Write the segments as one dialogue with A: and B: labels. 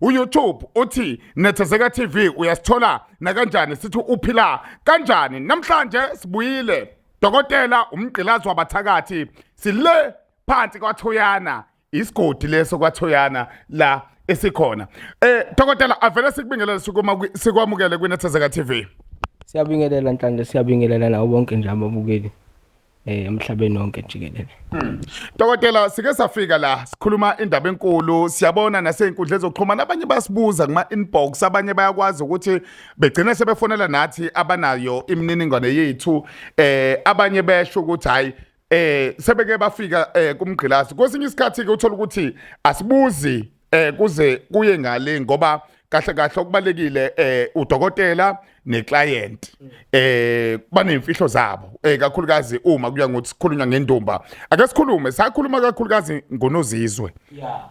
A: uYoutube uthi Nethezeka TV uyasithola nakanjani sithi uphila kanjani namhlanje sibuyile dokotela umgqilazi wabathakathi sile phansi kwaThoyana isigodi leso kwaThoyana la esikhona eh dokotela avele sikubingelele sukuma sikwamukele kwiNethezeka TV siyabingelela
B: nhlanje siyabingelela nawo bonke nje ababukeli eh emhlabeni wonke jikelele hmm. Dokotela
A: sike safika la sikhuluma indaba enkulu siyabona naseynkundleni zokuxhumana abanye basibuza kuma inbox abanye bayakwazi ukuthi begcine sebefonela nathi abanayo imininingwane yethu eh abanye besho ukuthi hayi eh sebeke bafika eh kumgqilazi kwesinye isikhathi ke uthola ukuthi asibuzi eh kuze kuye ngale ngoba kahle kahle okubalekile eh udokotela neclient eh banemfihlo zabo eh kakhulukazi uma kuya ngokuthi sikhulunywa ngendumba ake sikhulume sakhuluma kakhulukazi ngonozizwe yeah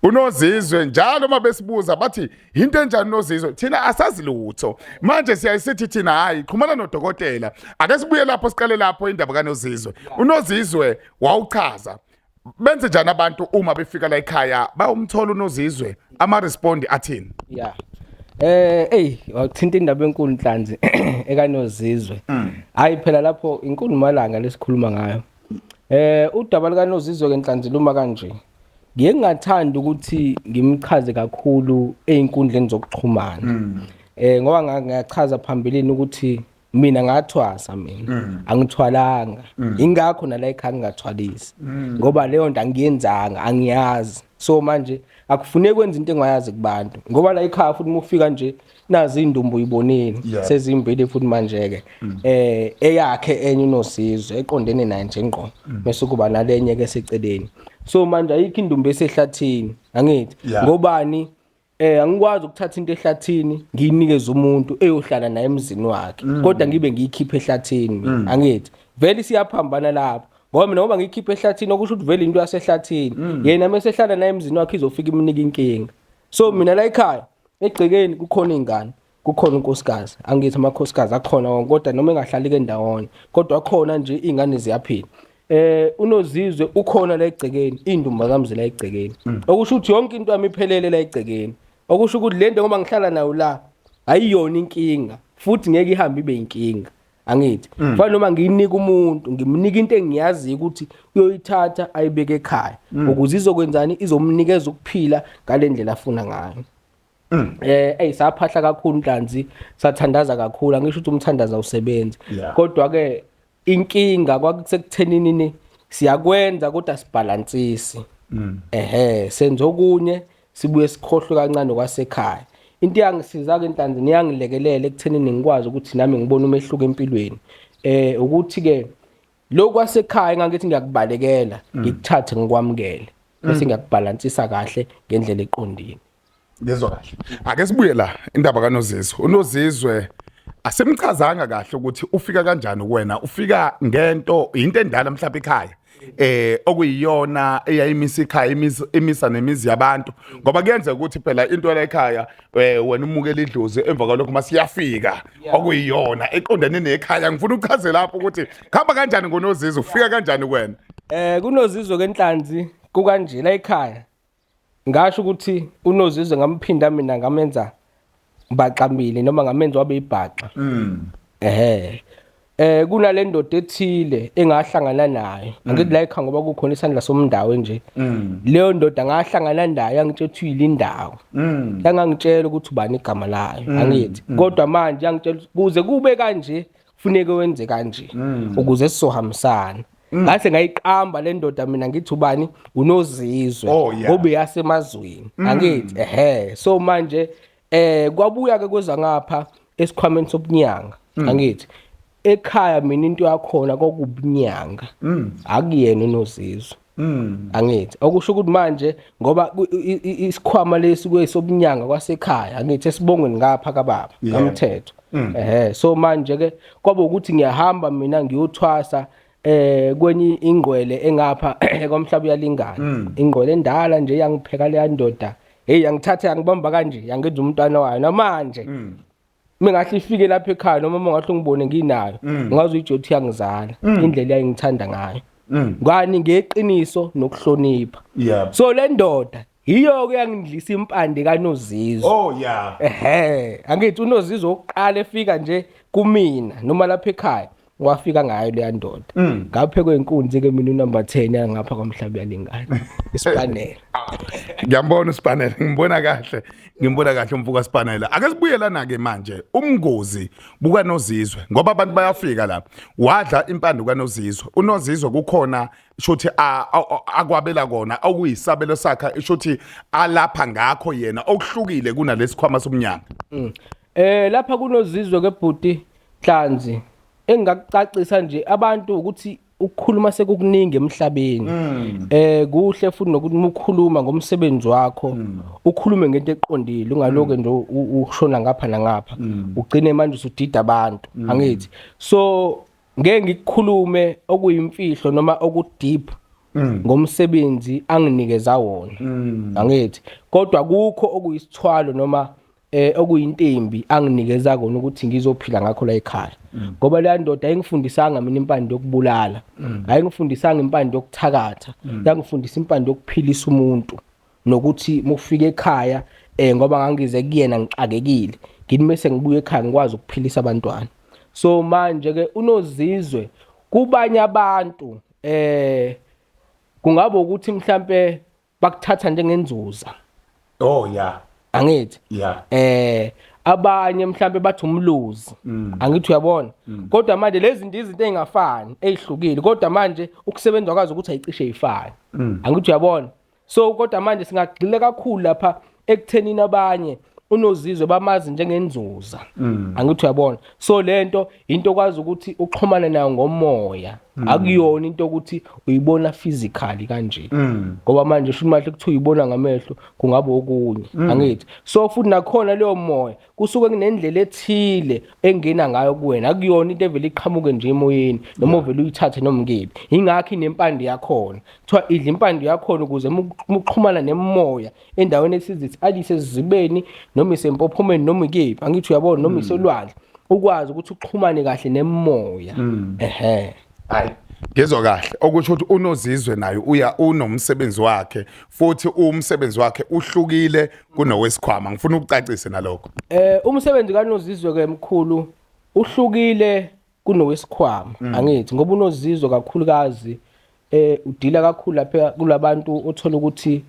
A: unozizwe njalo uma besibuza bathi yinto enjani unozizwe thina asazi lutho manje siyayisithi thina hayi xhumana nodokotela ake sibuye lapho siqale lapho indaba kanozizwe unozizwe wawuchaza benze njani abantu uma befika la ekhaya bayomthola unozizwe ama respond athini yeah Eh ey
B: wathinta indaba enkulu inhlanzi ekanozizwe. Mm. Hayi phela lapho inkulu malanga lesikhuluma ngayo. Eh udaba likanozizwe kenhlanzi luma kanje. Ngiye ngingathanda ukuthi ngimchaze kakhulu einkundleni zokuxhumana. Mm. Eh ngoba ngiyachaza phambilini ukuthi mina ngathwasa mina mm. angithwalanga mm. ingakho nala ekhaya ngingathwalisi mm. ngoba leyo nto angiyenzanga angiyazi so manje akufuneki kwenza into engayazi kubantu ngoba la ekhaya futhi mufika nje nazi indumbu uyibonile yeah. sezimbili futhi manje ke mm. eh eyakhe enye unosizwe eqondene naye nje ngqo mm. bese kuba nalenye ke seceleni so manje ayikho indumbu esehlathini angithi yeah. ngobani Eh angikwazi ukuthatha into ehlathini ngiyinikeze umuntu eyohlala naye emzini wakhe mm. kodwa ngibe ngiyikhiphe ehlathini mina mm. angithi vele siyaphambana lapho ngoba mina ngoba ngiyikhiphe ehlathini okusho ukuthi vele into yasehlathini mm. yena mesehlala naye emzini wakhe izofika imnika inkinga so mina la ekhaya egcekeni kukhona ingane kukhona unkosikazi angithi amakhosikazi akhona wonke kodwa noma engahlali ke ndawonye kodwa akhona nje ingane ziyaphila eh unozizwe ukhona la egcekeni indumba kamzi la egcekeni mm. okusho ukuthi yonke into yami iphelele la egcekeni okusho ukuthi lento ngoba ngihlala nayo la ayiyona inkinga futhi ngeke ihambe ibe inkinga angithi mm. fana noma ngiyinika umuntu ngimnika into engiyaziyo ukuthi uyoyithatha ayibeke ekhaya mm. ukuze izokwenzani izomnikeza ukuphila ngalendlela afuna ngayo Mm. Eh ey saphahla kakhulu inhlanzi sathandaza kakhulu angisho ukuthi umthandaza usebenzi kodwa ke inkinga kwakusekuthenini ni siyakwenza kodwa sibhalansisi mm. ehe senza okunye sibuye sikhohlwe kancane kwasekhaya into yangisiza ke inhlanzi niyangilekelela ekuthenini ngikwazi ukuthi nami ngibone umehluko empilweni eh ukuthi ke lokho kwasekhaya ngangithi ngiyakubalekela mm. ngikuthathe ngikwamukele bese ngiyakubhalansisa kahle ngendlela eqondile ngezwa kahle
A: ake sibuye la indaba kanozizwe unozizwe asimchazanga kahle ukuthi ufika kanjani kuwena ufika ngento into endala mhlawumbe ekhaya eh okuyiyona eyayimisa ikhaya imisa nemizi yabantu ngoba kuyenzeka ukuthi phela into la ekhaya eh, wena umukela idlozi emva kwalokho masiyafika okuyiyona eqondene nekhaya ngifuna uchaze lapho ukuthi khamba kanjani ngonozizwe ufika kanjani kuwena eh kunozizwe
B: kenhlanzi kukanjela ekhaya Ngasho ukuthi uNozizwe ngamphinda mina ngamenza baxambile noma ngamenza wabe ibhaxa. Mm. Ehhe. Eh kunale ndoda ethile engahlangana nayo. Mm. Angithi la ekhaya ngoba kukhona isandla somndawo nje. Mm. Leyo ndoda ngahlangana nayo angitshela ukuthi uyilindawo. Mm. Yangangitshela ukuthi ubani igama layo. Mm. Angithi. Mm. Kodwa manje yangitshela kuze kube kanje funeke wenze kanje mm. ukuze sizohambisana mm. ngase ngayiqamba le ndoda mina ngithi ubani unozizwe oh, obe yasemazweni mm. angithi ehe so manje eh kwabuya ke kweza ngapha esikhwameni sobunyanga angithi ekhaya mina into yakhona kokubunyanga akuyena unozizwe Mm. angithi okusho ukuthi manje ngoba ku- i- i- i- isikhwama lesi kwesobunyanga kwasekhaya angithi esibongweni ngapha kababa Yeah. kamthetho Mm. ehe so manje ke kwaba ukuthi ngiyahamba mina ngiyothwasa eh kwenye ingqwele engapha kwamhlaba uyalingana Mm. ingqwele endala nje yangipheka leya ndoda hey yangithatha yangibamba kanje yangenza umntwana wayo namanje Mm. mina ngahle ifike lapha ekhaya noma uma ngahle ngibone nginayo mm. ngazi uyijothi yangizala mm. indlela yayingithanda ngayo mm. ngani ngeqiniso nokuhlonipha so le ndoda yiyo-ke yangidlisa impande kanozizwe oh ya ehe angithi unozizwe wokuqala efika nje kumina noma lapha ekhaya wafika ngayo leya ndoda mm. ngaphe kwenkunzi ke mina unumber 10 yangapha kwamhlaba yalingana isipanela ah.
A: ngiyambona isipanela ngimbona kahle ngimbona kahle umfuka sipanela ake sibuyelana ke manje umngozi buka nozizwe ngoba abantu bayafika la wadla impande kanozizwe unozizwe kukhona shothi akwabela kona okuyisabelo sakhe shothi alapha ngakho yena okuhlukile kunalesikhwama somnyanga mm. eh
B: lapha kunozizwe ke bhuti Nhlanzi engakucacisa nje abantu ukuthi ukukhuluma sekukuningi emhlabeni mm. eh kuhle futhi nokuthi mukhuluma ngomsebenzi wakho mm. ukhulume ngento eqondile ungaloke mm. nje ushona ngapha nangapha ugcine manje usudida abantu angithi so ngeke ngikukhulume okuyimfihlo noma okudeep Mm. ngomsebenzi anginikeza wona mm. angithi kodwa kukho okuyisithwalo noma eh okuyintembi anginikeza kona ukuthi ngizophila ngakho la ekhaya mm. ngoba leya ndoda ayingifundisanga mina impande yokubulala mm. ayingifundisanga impande yokuthakatha mm. yangifundisa impande yokuphilisa umuntu nokuthi mufike ekhaya eh ngoba ngangize kuyena ngixakekile ngini mase ngibuye ekhaya ngikwazi ukuphilisa abantwana so manje ke unozizwe kubanye abantu eh kungaba ukuthi mhlambe bakuthatha njengenzuza oh yeah angithi yeah eh abanye mhlambe bathi umluzi mm. angithi uyabona mm. kodwa manje lezi zinto izinto ezingafani ezihlukile kodwa manje ukusebenza kwazi ukuthi ayicishe ifani mm. angithi uyabona so kodwa manje singagxile kakhulu lapha ekuthenini abanye unozizwe bamazi njengenzuza mm. angithi uyabona so lento into kwazi ukuthi uxhumane nayo ngomoya mm. akuyona into ukuthi uyibona physically kanje mm. ngoba manje sho imali ukuthi uyibona ngamehlo kungaba okunye angithi so futhi nakhona leyo moya kusuke kunendlela ethile engena ngayo kuwena akuyona into evele iqhamuke nje emoyeni noma uvele uyithathe noma ngebi ingakho inempande yakhona kuthiwa idla impande yakhona ukuze muxhumana nemoya endaweni esizithi alise sizibeni noma isempophomeni noma ikephi angithi uyabona noma mm. isolwandle ukwazi ukuthi uxhumane kahle nemoya mm. ehe
A: hayi ngizwa kahle okusho ukuthi unozizwe naye uya unomsebenzi wakhe futhi umsebenzi wakhe uhlukile kunowesikhwama ngifuna ukucacise nalokho eh umsebenzi
B: kanozizwe ke mkhulu uhlukile kunowesikhwama mm. angithi ngoba unozizwe kakhulukazi eh udila kakhulu lapha kulabantu othola ukuthi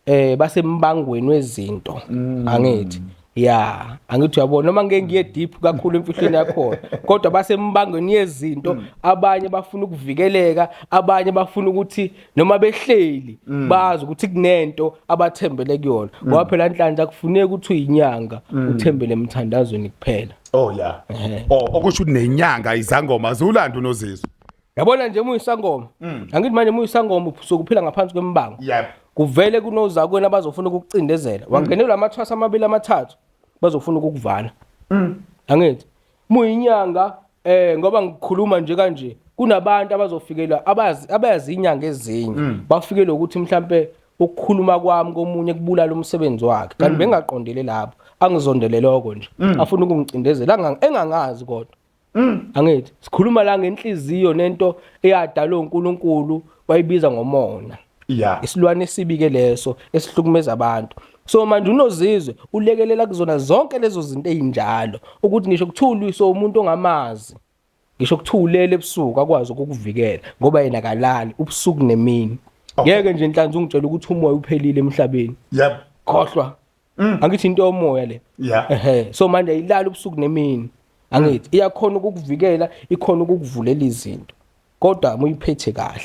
B: eh basembangweni wezinto mm. angithi ya angithi uyabona noma ngeke ngiye deep kakhulu emfihlweni yakhona kodwa basembangweni yezinto mm. abanye bafuna ukuvikeleka abanye bafuna ukuthi noma behleli mm. bazi ukuthi kunento abathembele kuyona mm. ngoba phela nhlanhla kufuneka ukuthi uyinyanga mm. uthembele emthandazweni kuphela oh ya yeah. oh
A: okusho ukuthi nenyanga izangoma ziwulanda unozizwe yabona nje
B: muyisangoma mm. angithi manje muyisangoma sokuphila ngaphansi kwembango yep. kuvele kunozakwenu abazofuna ukukucindezela mm. wangenelwa amathwasa amabili amathathu bazofuna ukukuvala mm. angithi muyinyanga eh ngoba ngikhuluma nje kanje kunabantu abazofikelwa abazi abayazi inyanga ezinye mm. bafikelwe ukuthi mhlambe ukukhuluma kwami komunye kubulala umsebenzi wakhe kanti mm. bengaqondele lapho angizondele lokho nje mm. afuna ukungicindezela engangazi kodwa Mm. Angithi sikhuluma la ngenhliziyo nento eyadalwa uNkulunkulu wayibiza ngomona. Yeah. Isilwane esibike leso esihlukumeza abantu. So manje unozizwe ulekelela kuzona zonke lezo zinto ezinjalo ukuthi ngisho kuthulwa so umuntu ongamazi ngisho kuthulele ebusuku akwazi ukukuvikela ngoba yena kalali ubusuku nemini. Ngeke nje inhlanzi ungitshela ukuthi umoya uphelile emhlabeni. Yep. Khohlwa. Mm. angithi into yomoya le yeah ehe so manje ayilali ubusuku nemini angithi iyakhona ukukuvikela ikhona ukukuvulela izinto kodwa muyiphethe kahle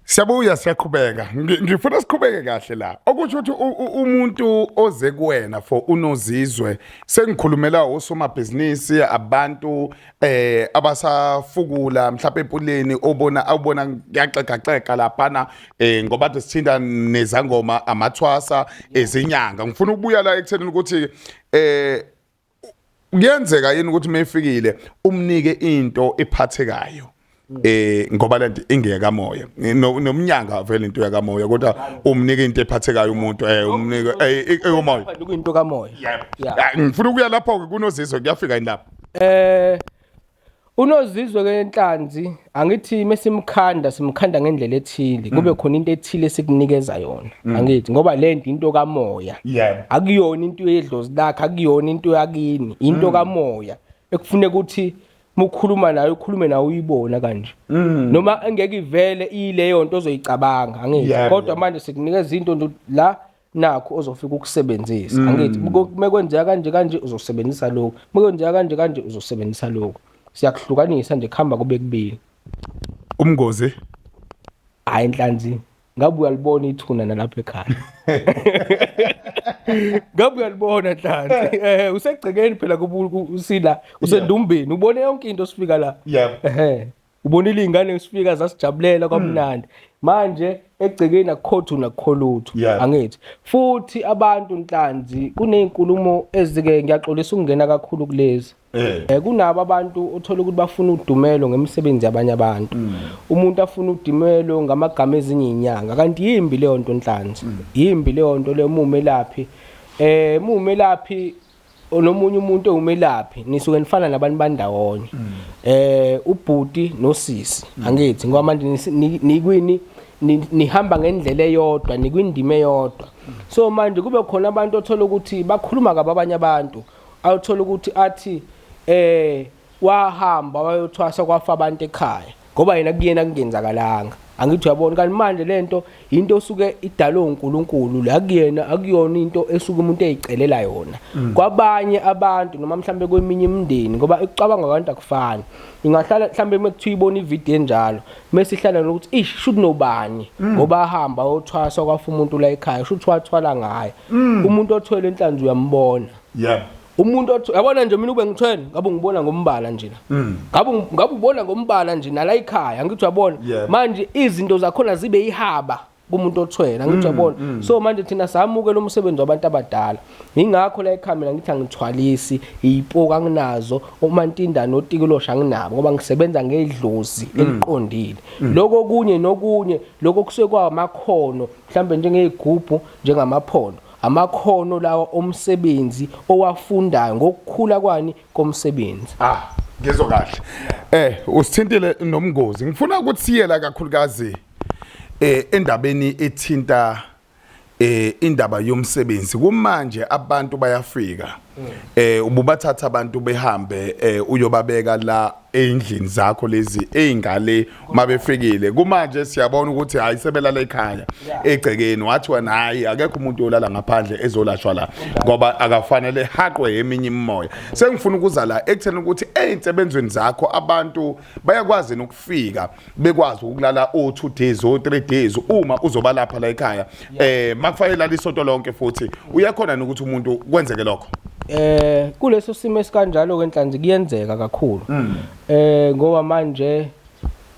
A: Siyabuya siyaqhubeka. Ngi- Ngifuna siqhubeke kahle la. Okusho ukuthi u- u- umuntu oze kuwena for unozizwe sengikhulumela osomabhizinisi abantu eh abasafukula mhlawumbe empuleni obona awubona kuyaxega xega laphana eh ngoba kade sithinta nezangoma amathwasa ezinyanga ngifuna ukubuya la ekuthenini ukuthi eh kuyenzeka yini ukuthi mefikile umnike into ephathekayo eh ngoba lento ingeka moya nomnyanga vele into yaka moya kodwa umnika into ephathekayo umuntu eh umnika eh, eh umoya into ka moya
B: ah, ngifuna
A: ukuya lapho ke kunozizwe kuyafika yini lapho eh
B: unozizwe ke enhlanzi angithi mesimkhanda simkhanda ngendlela ethile kube mm. khona into ethile esikunikeza yona mm. angithi ngoba lento into kamoya akuyona into yedlozi lakhe akuyona into yakini into mm. kamoya ekufuneka ukuthi uma ukhuluma nayo ukhulume nawe uyibona kanje mm. noma engeke ivele iyileyo nto ozoyicabanga angithi yeah, kodwa yeah. manje sikunikeza into nje la nakho ozofika ukusebenzisa mm. angithi uma kwenzeka kanje kanje uzosebenzisa lokho uma kwenzeka kanje kanje uzosebenzisa lokho siyakuhlukanisa nje kuhamba kube kubili umngozi hayi inhlanzi ngabe uyalibona ithuna nalapha ekhaya ngabe uyalibona nhlanhla eh usegcekeni phela usila usendumbeni ubone yonke into osifika la ehe ubonile izingane esifika zasijabulela hmm. kwamnandi manje egcekeni akukhothu nakukholuthu angithi futhi abantu nhlanzi kunezinkulumo ezike ngiyaxolisa ukungena kakhulu kulezi Eh. eh kunabo abantu othola ukuthi bafuna udumelo ngemisebenzi yabanye abantu. Mm. Umuntu afuna udumelo ngamagama ezinye inyanga kanti yimbi leyo nto nhlanzi. Mm. Yimbi leyo nto le mumelaphi. Eh mumelaphi nomunye umuntu ewumelaphi nisuke nifana nabantu bandawonye. Mm. Eh ubhuti nosisi angithi ngoba manje nikwini nihamba ngendlela eyodwa nikwindima eyodwa so manje kube khona abantu othola ukuthi bakhuluma kababanye abantu awuthola ukuthi athi eh wahamba wayothwasa kwafa abantu ekhaya ngoba yena kuyena kungenzakalanga angithi uyabona kanti manje lento into osuke idalwe uNkulunkulu la kuyena akuyona into esuke umuntu eyicelela yona mm. kwabanye abantu noma mhlambe kweminye imindeni ngoba ekucabanga abantu akufani ingahlala mhlambe mekuthiwa ibona ivideo enjalo mase ihlala nokuthi ish should nobani mm. ngoba ahamba othwasa kwafa umuntu la ekhaya should wathwala ngaye Mm. umuntu othwele enhlanzi uyambona yeah umuntu othi yabona nje mina ube ngithweni ngabe ngibona ngombala nje mm. ngabe ngabe ubona ngombala nje nala ikhaya ngithi uyabona manje izinto zakhona zibe ihaba kumuntu othwele ngithi mm, uyabona mm. so manje thina samuke lo msebenzi wabantu abadala ngingakho la ikhamera ngithi angithwalisi iyipoka anginazo omantindana otikulosha anginabo ngoba ngisebenza ngedlozi eliqondile lokho kunye nokunye lokho kusekwa amakhono mhlambe njengezigubhu njengamaphondo, amakhono lawa omsebenzi owafundayo ngokukhula kwani komsebenzi. Ah, ngizwa
A: kahle. Eh, usithintile nomngozi. Ngifuna ukuthi siyela kakhulukazi eh endabeni ethinta eh indaba yomsebenzi kumanje abantu bayafika eh ububathatha abantu behambe eh uyobabeka la eyindlini zakho lezi eyingale uma befikile kumanje siyabona ukuthi hayi sebelala ekhaya egcekeni wathi wena hayi akekho umuntu yolala ngaphandle ezolashwa la ngoba akafanele haqwe eminye imimoya sengifuna ukuza la ekutheni ukuthi ezinsebenzweni zakho abantu bayakwazi ukufika bekwazi ukulala o 2 days o 3 days uma uzoba lapha la ekhaya eh makufanele lala isonto lonke futhi uyakhona nokuthi umuntu kwenzeke lokho eh kuleso
B: simo esikanjalo ke nhlanzi kuyenzeka kakhulu mm. eh ngoba manje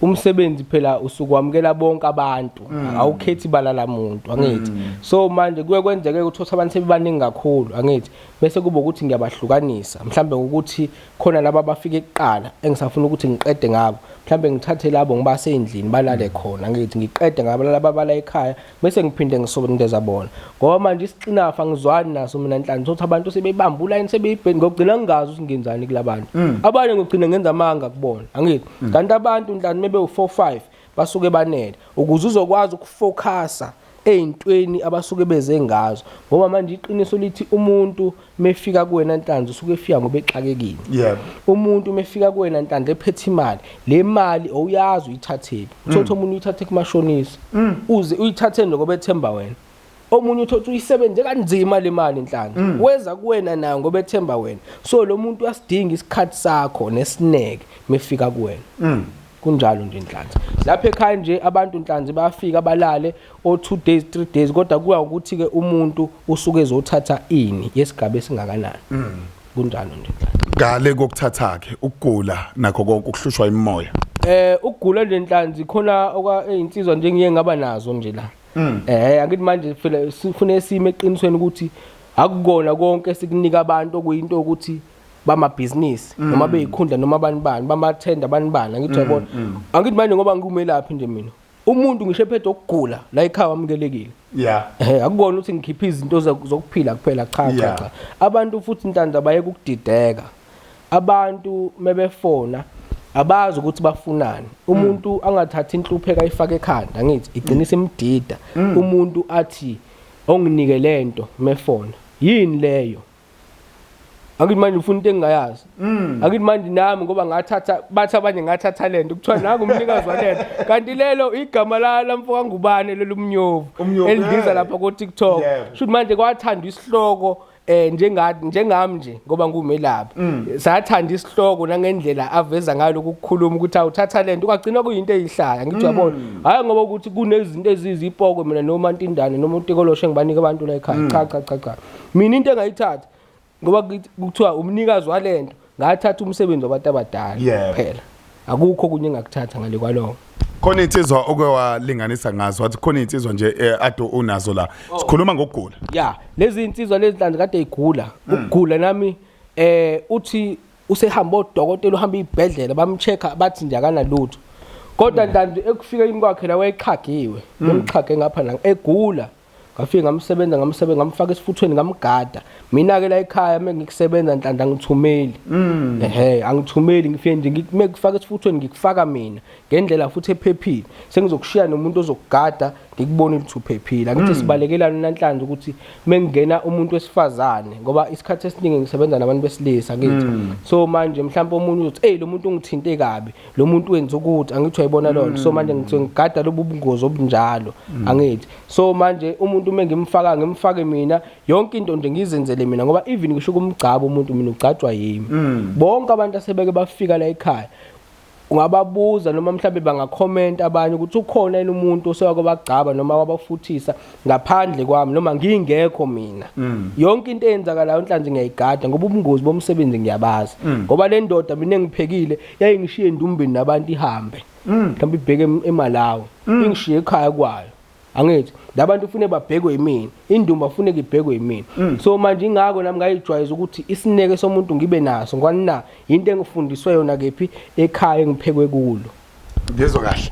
B: umsebenzi phela usukwamukela bonke abantu mm. awukhethi balala muntu angithi mm. so manje kuye kwenzeke ukuthi abantu sebebaningi kakhulu angithi bese kuba ukuthi ngiyabahlukanisa mhlambe ukuthi khona laba abafike kuqala engisafuna ukuthi ngiqede ngabo mhlawumbe ngithathe labo ngibase endlini balale mm. khona ngithi ngiqede ngabo laba bala ekhaya bese ngiphinde ngisondeza bona ngoba manje isixinafa ngizwani naso mina nhlanhla sokuthi abantu sebebamba ulayini sebeyibheni ngokugcina ngingazi ukuthi ngenzani kulabantu mm. abanye ngokugcina ngenza amanga kubona angithi mm. kanti abantu nhlanhla mebe u4 5 basuke banele ukuze uzokwazi ukufocusa ey'ntweni abasuke beze ngazo ngoba manje iqiniso lithi umuntu mefika kuwena nhlanzi usuke efika ngoba exakekile yebo umuntu mefika kuwena nhlanzi ephethe imali le mali awuyazi uyithathephi uthothi mm. omunye uyithathe kumashonisa mm. uze uyithatheni ngoba ethemba wena omunye uthi uthi uyisebenze kanzima le mali inhlanga mm. weza kuwena nayo ngoba ethemba wena so lo muntu uyasidinga isikhathi sakho nesineke mefika kuwena mm. kunjalo nje inhlanzi lapha ekhaya nje abantu inhlanzi bayafika balale o 2 days 3 days kodwa kuya ukuthi ke umuntu usuke ezothatha ini yesigaba esingakanani mm. kunjalo nje ngale kokuthatha
A: ke ukugula nakho konke ukuhlushwa imimoya eh ukugula
B: lenhlanzi khona okwa ezinsizwa njengiye ngaba nazo nje la Mm. Eh angithi manje phela sifune isimo eqinisweni ukuthi akukona konke esikunika abantu okuyinto ukuthi bamabhizinisi mm. noma beyikhundla noma abantu bani bamathenda abantu bani angithi mm, yabona mm. angithi manje ngoba ngikumelaphi nje mina umuntu ngisho ephethe ukugula la ekhaya wamukelekile yeah eh akukona ukuthi ngikhiphe izinto zokuphila kuphela cha cha abantu futhi intanda bayeke ukudideka abantu mebefona abazi ukuthi bafunani umuntu mm. angathathi inhlupheko ayifake ekhanda ngithi igcinisa imdida mm. umuntu athi onginike lento mefona yini leyo angithi manje ufuna into engingayazi mm. angithi manje nami ngoba ngathatha bathi abanye ngathatha lento kuthiwa nangu umnikazi walento kanti lelo igama lamfo kangubane lelumnyovu elibiza lapha ku-tiktok shuthi manje kwathandwa isihloko eh njenga njengami nje ngoba ngumelaphi mm. sathanda isihloko nangendlela aveza ngayo lokukhuluma ukuthi awuthatha lento ungagcina kuyinto eyihlaya ngithi mm. yabona hayi ngoba ukuthi kunezinto ezizipoko mina noma ntindane noma utikoloshe engibanike abantu la ekhaya mm. cha cha cha cha mina into engayithatha ngoba kuthiwa umnikazi walento ngathatha umsebenzi wabantu abadala Yeah. kuphela akukho okunye engakuthatha ngale kwaloko khona insizwa
A: oke walinganisa ngazo wathi khona insizwa nje eh, ade unazo la sikhuluma ngokugula ya lezi insizwa
B: lezi nhlanje kade igula ukugula nami eh uthi usehamba odokotela uhamba ibhedlela bamchecka bathi nje akanalutho kodwa ntandu ekufikeni kwakhe la wayeqhagiwe bemqhage ngapha la egula ngafike ngamsebenza ngamsebenza ngamfaka esifuthweni ngamgada mina ke la ekhaya uma ngikusebenza nhlanhla angithumeli mm. ehe angithumeli ngifike nje ngikume kufaka esifuthweni ngikufaka mina ngendlela futhi ephephile sengizokushiya nomuntu ozokugada ngikubone ukuthi uphephile angithi mm. sibalekelana namhlanje ukuthi mengingena umuntu wesifazane ngoba isikhathi esiningi ngisebenza nabantu besilisa ngithi mm. so manje mhlawumbe omunye uzothi hey lo muntu ungithinte kabi lo muntu wenza ukuthi angithi uyayibona loo nto so manje ngithi ngigada lobu bungozi obunjalo angithi so manje umuntu uma ngimfaka ngimfake mina yonke into nje ngizenzele mina ngoba even ngisho kumgcaba umuntu mina ugcatshwa yimi mm. bonke abantu asebeke bafika la ekhaya ungababuza noma mhlawumbe bangakhomenta abanye ukuthi ukhona yini umuntu osewake bagcaba noma wabafuthisa ngaphandle kwami noma ngingekho mina mm. yonke into eyenzakalayo nhlanzi ngiyayigada ngoba ubungozi bomsebenzi ngiyabazi mm. ngoba le ndoda mina engiphekile yayingishiye endumbeni nabantu ihambe mm. mhlawumbe ibheke emalawi mm. ingishiye ekhaya kwayo angithi labantu ufune babhekwe yimina indumba ufune ngibhekwe yimina mm. so manje ingako nami ngayijwayeza ukuthi isineke somuntu ngibe naso ngani na into engifundiswe yona kephi ekhaya engiphekwe kulo ngizwe kahle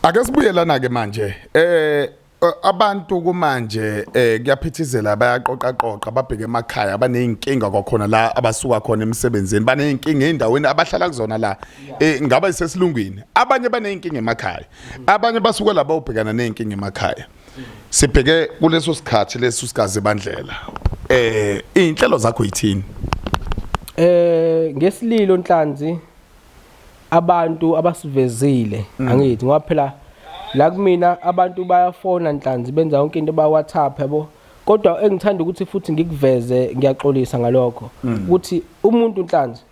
A: ake sibuye lana ke manje eh Eh, abantu kumanje eh kuyaphithizela bayaqoqa qoqa babheke emakhaya abanezinkinga kwakhona la abasuka khona emsebenzini banezinkinga endaweni abahlala kuzona la eh ngaba isesilungwini abanye banezinkinga emakhaya abanye basuka laba ubhekana nezinkinga emakhaya sibheke kuleso sikhathi leso sikaze bandlela eh inhlelo zakho yithini eh
B: ngesililo nhlanzi abantu abasivezile mm. angithi ngoba phela la kumina abantu bayafona nhlanzi benza yonke into ba WhatsApp yabo kodwa engithanda ukuthi futhi ngikuveze ngiyaxolisa ngalokho mm. ukuthi umuntu nhlanzi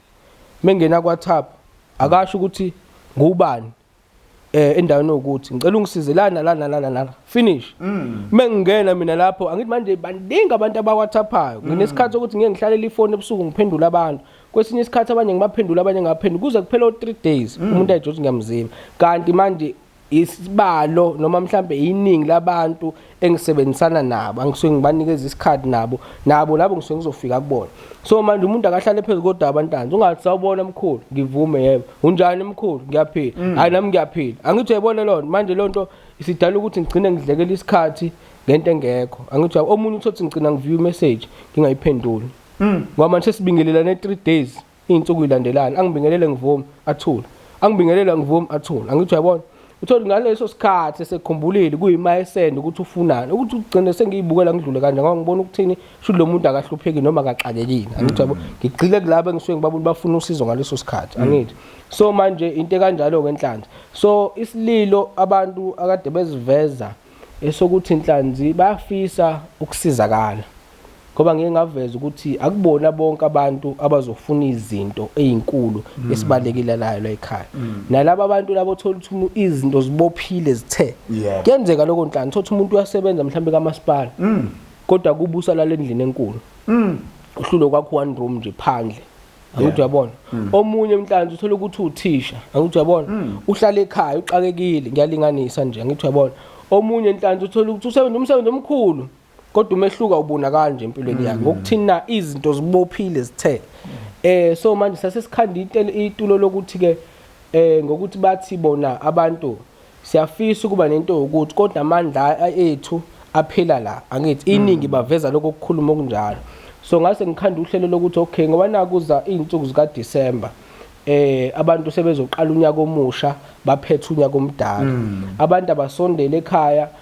B: mengena kwa WhatsApp akasho ukuthi ngubani eh endaweni yokuthi ngicela ungisize lana lana lana lana finish mm. mengingena mina lapho angithi manje baningi abantu abawathaphayo mm. nginesikhathi sokuthi ngeke ngihlalela ifoni ebusuku ngiphendula abantu kwesinye isikhathi abanye ngibaphendula abanye ngaphendula kuze kuphela o3 days mm. umuntu ayijothi ngiyamzima kanti manje isibalo noma mhlambe iningi labantu engisebenzisana nabo angisuke ngibanikeza isikhathi nabo nabo labo ngisuke ngizofika kubona so manje umuntu akahlale phezu kodaba ntanzi ungathi sawubona mkhulu ngivume yebo unjani mkhulu ngiyaphila mm. hayi nami ngiyaphila angithi uyayibona lona manje loo nto isidala ukuthi ngigcine ngidlekela isikhathi ngento engekho angithi omunye uthothi ngigcina ngiviye imessage ngingayiphenduli mm. ngoba manje sesibingelelane three days Iy'nsuku ilandelana, angibingelele ngivumi, athule. Angibingelele angivumi, athule. Angithi uyabona? Uthole ngaleso sikhathi esekhumbulile kuyimayesende ukuthi ufunani. Ukuthi ugcine sengiyibukela ngidlule kanje ngoba ngibona ukuthini sho lo muntu akahlupheki noma akaxakekile. Angithi uyabona? Mm. Ngigxile kulabo engisuke ngibabona bafuna usizo ngaleso sikhathi. Mm. Angithi? So manje into ekanjalo ke enhlanzi. So isililo abantu akade beziveza esokuthi inhlanzi bafisa ukusizakala. ngoba ngeke ngaveza ukuthi akubona bonke abantu abazofuna izinto ezinkulu mm. esibalekile layo la ekhaya mm. nalabo abantu labo othola ukuthi izinto zibophile zithe kuyenzeka lokho nhlanga thothi umuntu uyasebenza mhlawumbe kamasipala mm. kodwa kubusa lale ndlini enkulu uhlulo kwakho one room nje phandle angithi uyabona omunye mhlanzi uthola ukuthi uthisha angithi uyabona uhlala ekhaya uxakekile ngiyalinganisa nje angithi uyabona omunye nhlanzi uthola ukuthi usebenza umsebenzi omkhulu kodwa umehluko awubonakali nje empilweni yakhe ngokuthini na izinto zibophile zithe eh so manje sasesikhanda intele itulo lokuthi ke eh ngokuthi bathi bona abantu siyafisa ukuba nento yokuthi kodwa amandla a- ethu aphela la angithi iningi baveza lokho kukhuluma okunjalo so ngase ngikhanda uhlelo lokuthi okay ngoba nakuza izinsuku zika December eh abantu sebezoqala unyaka omusha baphethe unyaka omdala abantu abasondele ekhaya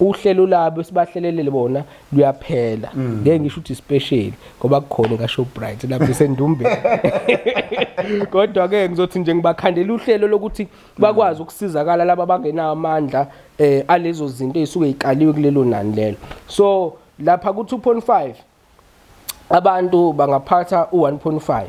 B: uhlelo labo sibahlelelele bona luyaphela mm. ngeke ngisho ukuthi special ngoba kukhona ka Shoprite lapho sendumbe kodwa ke ngizothi nje ngibakhandela uhlelo lokuthi bakwazi ukusizakala laba bangenawo amandla eh alezo zinto ezisuke ikaliwe kulelo nani lelo so lapha ku 2.5 abantu bangaphatha u-1.5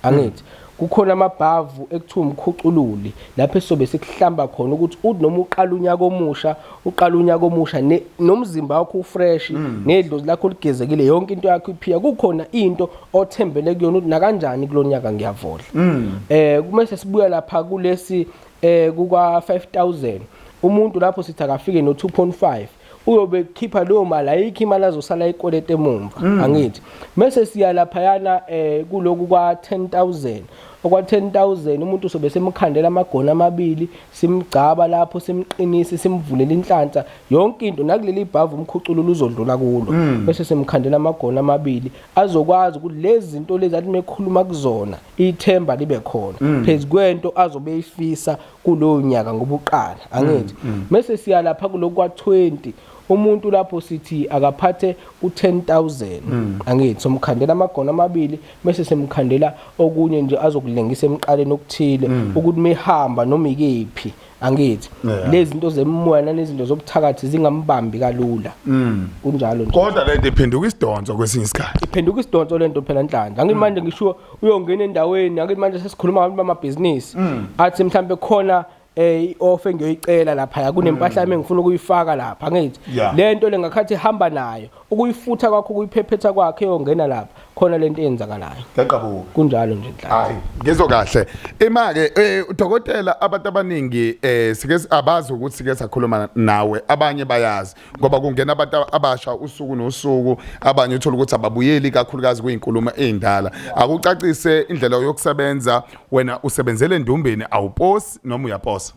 B: angithi kukhona amabhavu ekuthiwa umkhucululi lapho esobe sikuhlamba khona ukuthi uthi noma uqala unyaka omusha uqala unyaka omusha ne- nomzimba wakho ufresh Mm. nedlozi lakho ligezekile yonke into yakho iphiya kukhona into othembele kuyona ukuthi nakanjani kulo nyaka ngiyavodla Mm. eh kumese sibuya lapha kulesi eh kuka 5000 umuntu lapho sithi akafike no 2.5 uyobe ekhipha leyo mali ayikho imali azosala ikoleta emumva mm. angithi mese siya laphayana eh kuloku kwa 10000 okwa 10000 umuntu sobe semkhandela amagona amabili simgcaba lapho simqinisi simvulela inhlanhla yonke into nakuleli bhavu umkhuculo luzodlula kulo mm. bese semkhandela amagona amabili azokwazi ukuthi lezi zinto lezi athi mekhuluma kuzona ithemba libe khona mm. phezu kwento azobe ifisa kulowo nyaka ngoba uqala mm, angithi mm. mese siya lapha kulokwa 20 umuntu lapho sithi akaphathe u10000 mm. angithi somkhandela amagona amabili mese semkhandela okunye nje azokulengisa emqaleni okuthile ukuthi mehamba noma ikephi angithi lezi zinto zemimoya nanezinto zobuthakathi zingambambi kalula mm. kunjalo nje kodwa lento iphenduka
A: isidonso kwesinye isikhathi iphenduka isidonso lento
B: phela nhlanhla angimanje mm. ngisho uyongena endaweni akuthi manje sesikhuluma ngabantu bamabhizinisi mm. athi mhlawumbe khona eh i-off engiyoyicela lapha kunempahla yami mm. engifuna ukuyifaka lapha ngithi lento lengakhathi ihamba nayo ukuyifutha kwakho ukuyiphephetha kwakhe yongena lapha khona lento eyenzakalayo ngaqabuka kunjalo
A: nje inhlanhla
B: hayi ngizwe kahle
A: ima ke eh, udokotela abantu abaningi eh sike abazi ukuthi sike sakhuluma nawe abanye bayazi ngoba kungena abantu abasha usuku nosuku abanye uthola ukuthi ababuyeli kakhulukazi kuyinkulumo ezindala akucacise indlela yokusebenza wena usebenzele endumbeni awuposi noma uyaposa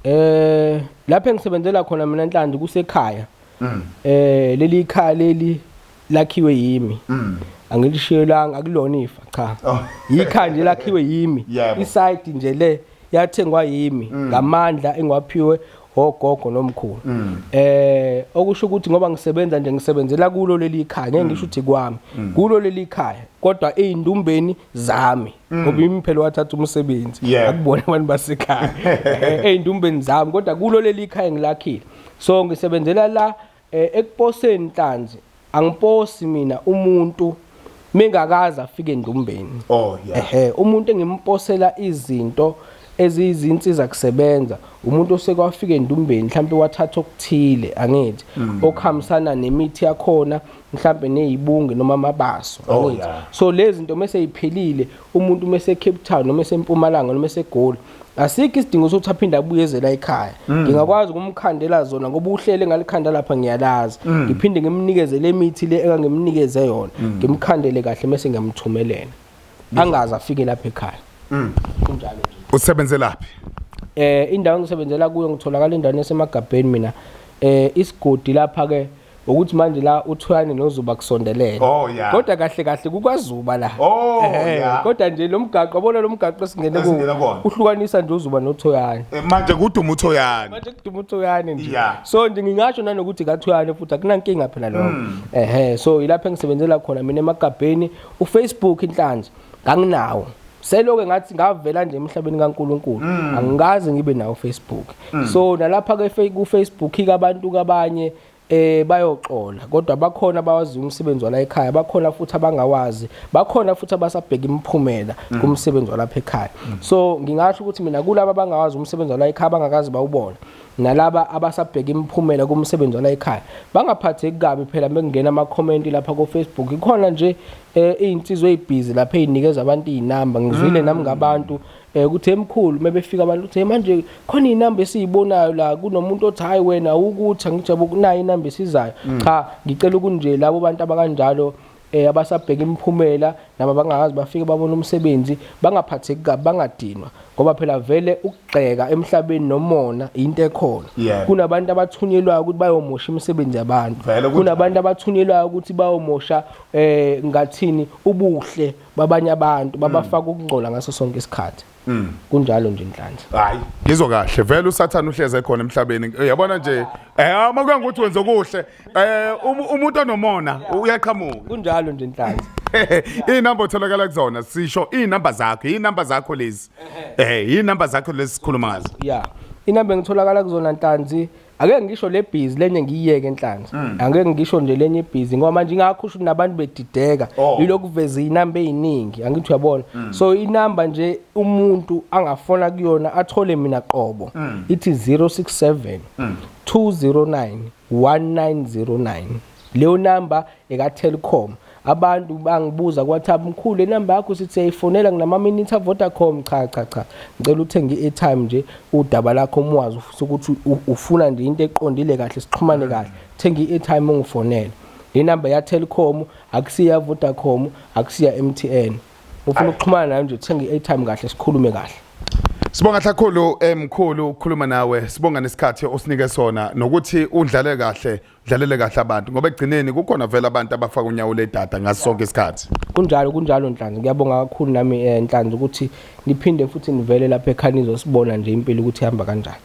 A: eh
B: lapho engisebenzela khona mina enhlandi kusekhaya mm. eh leli ikhaya leli lakhiwe yimi mm. angilishiyelanga akulona ifa cha oh. yikhaya nje lakhiwe yimi isayidi nje le yathengwa yimi mm. ngamandla engiwaphiwe ogogo nomkhulu mm. eh okusho ukuthi ngoba ngisebenza nje ngisebenzela kulo leli khaya ngeke ngisho mm. ukuthi kwami mm. kulo leli khaya kodwa eindumbeni zami ngoba yimi phela wathatha umsebenzi akubona abantu basekhaya eh, eindumbeni zami kodwa kulo leli khaya ngilakhile so ngisebenzela la Eh ekuposeni nhlanzi angiposi mina umuntu mengakaze afike endumbeni oh yeah ehe umuntu engimposela izinto eziyizinsiza kusebenza umuntu osekwafika endumbeni mhlawumbe wathatha okuthile angithi mm. okuhambisana nemithi yakhona mhlawumbe nezibunge noma amabaso oh, angithi so lezi zinto mase iphelile umuntu mase Cape Town noma esempumalanga noma esegoli asikho isidingo sokuthi aphinde abuye ezela ekhaya mm. ngingakwazi ukumkhandela zona ngoba uhlele ngalikhanda lapha ngiyalazi mm. ngiphinde ngimnikeze le mithi le engangimnikeze yona mm. ngimkhandele kahle mese ngiyamthumelela angazi afike lapha ekhaya kunjalo nje usebenzelaphi
A: eh
B: indawo engisebenzela kuyo ngitholakala endaweni esemagabheni mina eh isigodi lapha ke ukuthi manje la uthwani nozuba kusondelene oh, yeah. kodwa kahle kahle kukwazuba la oh, yeah. kodwa nje lo mgaqo yabona lo mgaqo esingene kuwo uhlukanisa nje uzuba nothoyane eh, manje kuduma
A: uthoyane manje kuduma uthoyane
B: nje yeah. so nje ngingasho nanokuthi kathoyane futhi akunankinga phela lokho mm. ehe so yilapho engisebenzela khona mina emagabheni ufacebook inhlanzi nganginawo seloke ngathi ngavela nje emhlabeni kaNkuluNkulu mm. angikaze ngibe nawo Facebook mm. so nalapha ke ku Facebook ikabantu kabanye eh bayoxola kodwa bakhona abawazi umsebenzi wala ekhaya bakhona futhi abangawazi bakhona futhi abasabheka imiphumela mm. kumsebenzi walapha ekhaya mm. so ngingasho ukuthi mina kulabo abangawazi umsebenzi wala ekhaya bangakazi bawubona nalaba abasabheka imiphumela kumsebenzi wala ekhaya bangaphatheki kabi phela bekungena ama comment lapha ku Facebook ikhona nje eh, izinsizwe ezibhizi lapha ezinikeza abantu izinamba ngizwile mm. nami ngabantu mm. Eh ukuthi emkhulu mebefika abantu uthi manje khona inamba esiyibonayo la kunomuntu othi hayi wena ukuthi angijabe ukunayo inamba esizayo. Mm. Cha ngicela ukunje labo bantu abakanjalo eh abasabheka imiphumela nabo bangakazi bafike babona umsebenzi bangaphatheki kabi bangadinwa ngoba phela vele ukugxeka emhlabeni nomona into ekhona yeah. kunabantu abathunyelwayo ukuthi bayomosha imisebenzi yabantu kunabantu abathunyelwayo ukuthi bayomosha eh ngathini ubuhle babanye abantu babafaka ukungcola ngaso sonke isikhathi kunjalo nje inhlanhla hayi ngizwa kahle
A: vele usathane uhleze khona emhlabeni uyabona nje eh uma kuya ngokuthi wenza okuhle eh um- umuntu onomona uyaqhamuka kunjalo nje inhlanhla
B: inamba
A: otholakala kuzona sisho inamba zakho inamba zakho lezi eh inamba zakho lezi sikhuluma ngazo ya inamba
B: engitholakala kuzona ntanzi Ake ngisho le busy lenye ngiyiyeke enhlanzi. Mm. Ake ngisho nje lenye busy ngoba manje ingakho usho nabantu bedideka oh. yilokhu veze inamba eziningi angithi uyabona. Mm. So inamba nje umuntu angafona kuyona athole mina qobo mm. ithi 067 209 1909. Leyo namba ekaTelkom abantu bangibuza kwathi mkhulu inamba yakho sithi siyayifonela nginamaminithi aVodacom cha cha cha ngicela uthenge i-airtime nje udaba lakho umwazi ufisa ukuthi ufuna nje into eqondile kahle sixhumane kahle thenga i-airtime ungifonele le namba yaTelkom akusiya Vodacom akusiya MTN ufuna ukuxhumana nayo nje thenga i-airtime kahle sikhulume kahle Sibonga
A: hlakhulu emkhulu eh, ukukhuluma nawe sibonga nesikhathi osinike sona nokuthi udlale kahle dlalele kahle abantu ngoba ekugcineni kukhona vele abantu abafaka unyawo ledada ngaso sonke isikhathi kunjalo kunjalo nhlanzi
B: ngiyabonga kakhulu nami eh, nhlanzi ukuthi niphinde futhi nivele lapha ekhaya nizosibona nje impilo ukuthi ihamba kanjani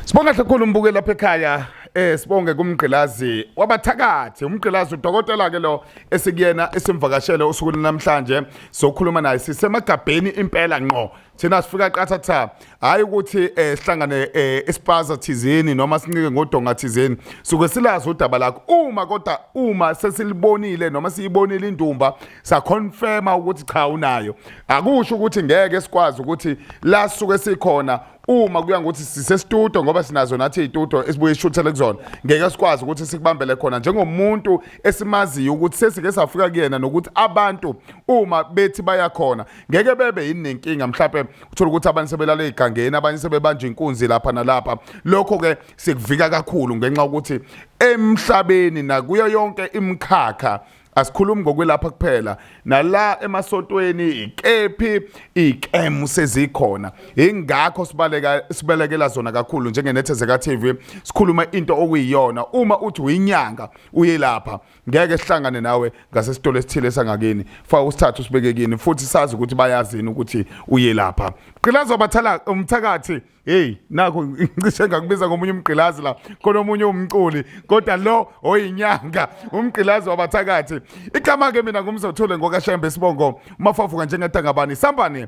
B: sibonga kahle
A: kakhulu umbuke lapha ekhaya eh sibonge kumgqilazi wabathakathi umgqilazi udokotela ke lo esikuyena esimvakashele usuku namhlanje sokhuluma naye sisemagabheni impela ngqo thina sifika qathatha hayi ukuthi eh sihlangane eh, isipaza thizeni noma sincike ngodonga thizeni suke silazi udaba lakho uma kodwa uma sesilibonile noma siyibonile indumba sa confirm ukuthi cha unayo akusho ukuthi ngeke sikwazi ukuthi la suke sikhona uma kuya ngokuthi sisestudio ngoba sinazo nathi itudio esibuye ishuthele kuzona ngeke sikwazi ukuthi sikubambele khona njengomuntu esimaziyo ukuthi sesike safika kuyena nokuthi abantu uma bethi bayakhona ngeke bebe yini nenkinga mhlawumbe uthola ukuthi abanye sebelala egangeni abanye sebebanje inkunzi lapha nalapha lokho ke sikuvika kakhulu ngenxa ukuthi emhlabeni nakuyo yonke imkhakha asikhulumi ngokwelapha kuphela nala emasontweni ikephi ikemu sezikhona ingakho sibaleka sibelekela zona kakhulu njengenethezeka TV sikhuluma into okuyiyona uma uthi uyinyanga uyelapha ngeke sihlangane nawe ngasesitolo esithile sangakini fa usithathu sibeke kini futhi sazi ukuthi bayazini ukuthi uye lapha gqilazi wabathala umthakathi hey nakho ngicishe ngakubiza ngomunye umgqilazi la khona omunye umculi kodwa lo oyinyanga umgqilazi wabathakathi igama ke mina ngumzothule ngokashembe sibongo mafafuka njengetangabani sambane